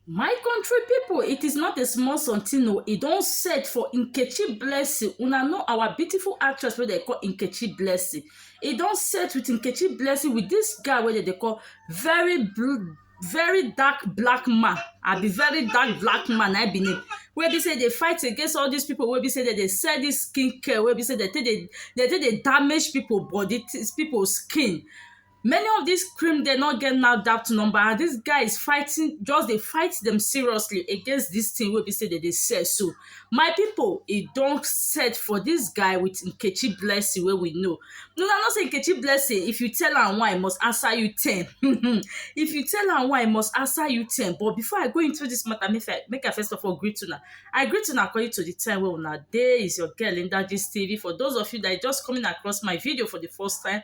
My country people, it is not a small something o. E don set for Nkechi Blessing. Una know our beautiful actress wey dem call Nkechi Blessing. E don set with Nkechi Blessing with this guy wey dem dey call very blue, very dark black man. Abi very dark black man na im be name. Wey be say dey fight against all these people wey be say dem dey sell this skin care wey be say dem take dey dem take dey damage people body, people skin. many of dis cream dem no get NAFDAC number and dis guys fighting just dey fight dem seriously against dis thing wey be sey dem dey sell so my people e don set for dis guy with Nkechi Blessing wey we know una know sey Nkechi Blessing if you tell am one e must answer you ten um if you tell am one e must answer you ten but before I go into dis matter make I make I first of all greet una I greet una according to the time wey una dey is your girl Linda Gistv for those of you that is just coming across my video for the first time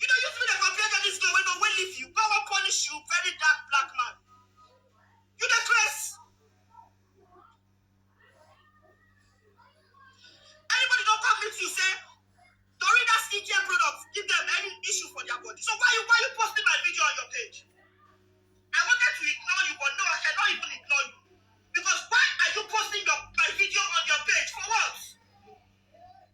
You dey use me dey compare girl this girl wey no wey leave you come wan punish you very dark black man. You dey craze. Anybody don come meet you say Doreen that skincare product give them any issue for their body so why you why you posting my video on your page? I wanted to ignore you but no I cannot even ignore you because why are you posting your my video on your page for what?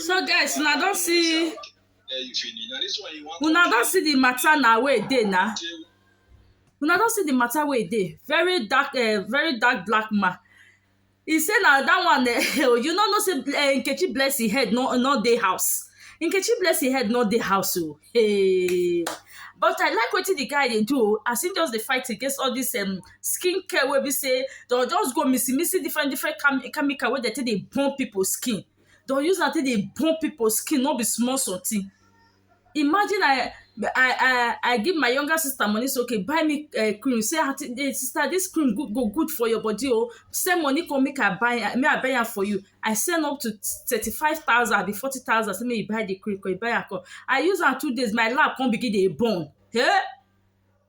so guys una don see una don see the matter na wey e dey na una don see the matter wey e dey very dark eh, very dark black man he say na that one eh, you no know say eh, nkechi blessing head no no dey house nkechi blessing head no dey house o hey. but i like wetin the guy dey do o as he just dey fight against all this um, skin care wey be sey dem just go mixi mixi different different chemical wey dem take dey burn pipu skin. Dem go use am take dey burn pipu skin no be small something. Imagine I I I give my younger sister money sey okay buy me um cream sey um sister dis cream good go good for your body oo, send money come make I buy am make I buy am for you. I send up to thirty five thousand abi forty thousand sey make you buy de cream, e buy am come. I use am two days my lab come begin dey burn um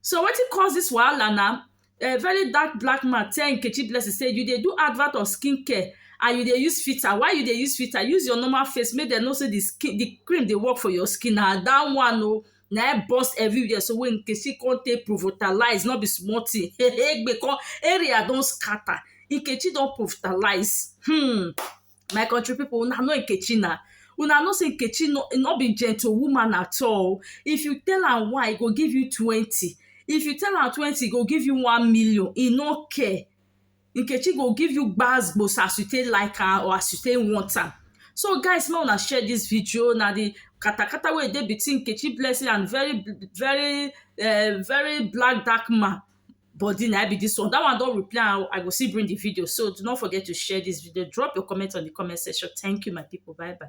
So wetin cause dis wahala na um very dark black man tell Nkechi Blessing sey you dey do advert of skin care and you dey use filter, why you dey use filter? Use your normal face make dem know sey the cream dey work for your skin, na dat one oh na im burst everywhere so wey Nkechi con take provotalize no be small thing um area don scatter, Nkechi don provotalize um my country people una know nkechi na una know say nkechi no no be gentle woman at all if you tell am one e go give you twenty if you tell am twenty e go give you one million e no care nkechi go give you gbas gbos as you take like am or as you take want am so guys make una share this video na the katakata wey dey between nkechi blessing and very very uh, very black dark man body na im be dis one. Dat one don reply am o. I go still bring the video. So, do not forget to share dis video. Drop your comment on the comment section. Thank you my people. Bye bye.